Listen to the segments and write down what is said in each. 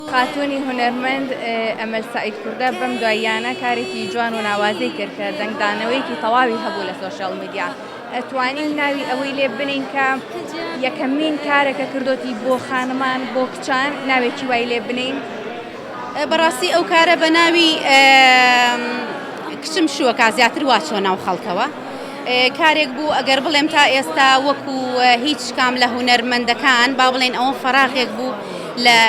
خاتوونی هونەرمەند ئەمەل سەعید کوردە بەم دواییانە کارێکی جوان و ناوازەی کرد کە دەنگدانەوەیەکی تەواوی هەبوو لە سۆشیاڵ میدیا ئەتوانین ناوی ئەوەی لێ بنین کە یەکەمین کارەکە کردوتی بۆ خانمان بۆ کچان ناوێکی وای لێ بنین بەڕاستی ئەو کارە بە ناوی کچم شووەکە زیاتر واچۆ ناو خەڵکەوە کارێک بوو ئەگەر بڵێم تا ئێستا وەکو هیچ کام لە هونەرمەندەکان با بڵێن ئەوە فەراغێک بوو لە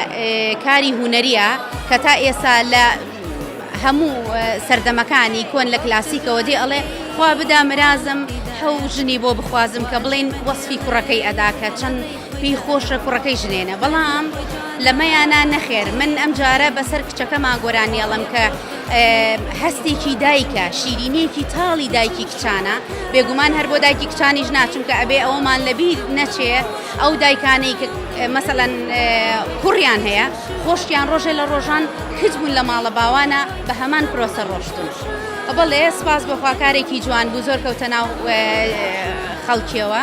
کاری هونەریە کە تا ئێستا لە هەموو سەردەمەکانی کۆن لە کلاسیکەوە دێ ئەڵێ خوا بدا مرازم حەو ژنی بۆ بخوازم کە بڵین وەسفی کوڕەکەی ئەدا کە چەند پێی خۆشە کوڕەکەی ژنێنە بەڵام لەمەیانا نەخێر من ئەم جارە بەسەر کچەکەما گۆرانیێڵم کە هەستێکی دایکە شیرینێکی تاڵی دایکی کچانە بێگومان هەر بۆ دایکی کچانیش ناچونکە ئەبێ ئەومان لەبییر نەچێ ئەو دایکانەی کە مەسەەن کوڕیان هەیە خۆشتیان ڕۆژێ لە ڕۆژان کچ بوون لە ماڵە باوانە بە هەمان پرۆسە ڕۆشتون. بەڵێ سپاس بۆ خواکارێکی جوان بوو زۆر کەوتە ناو خەڵکیەوە.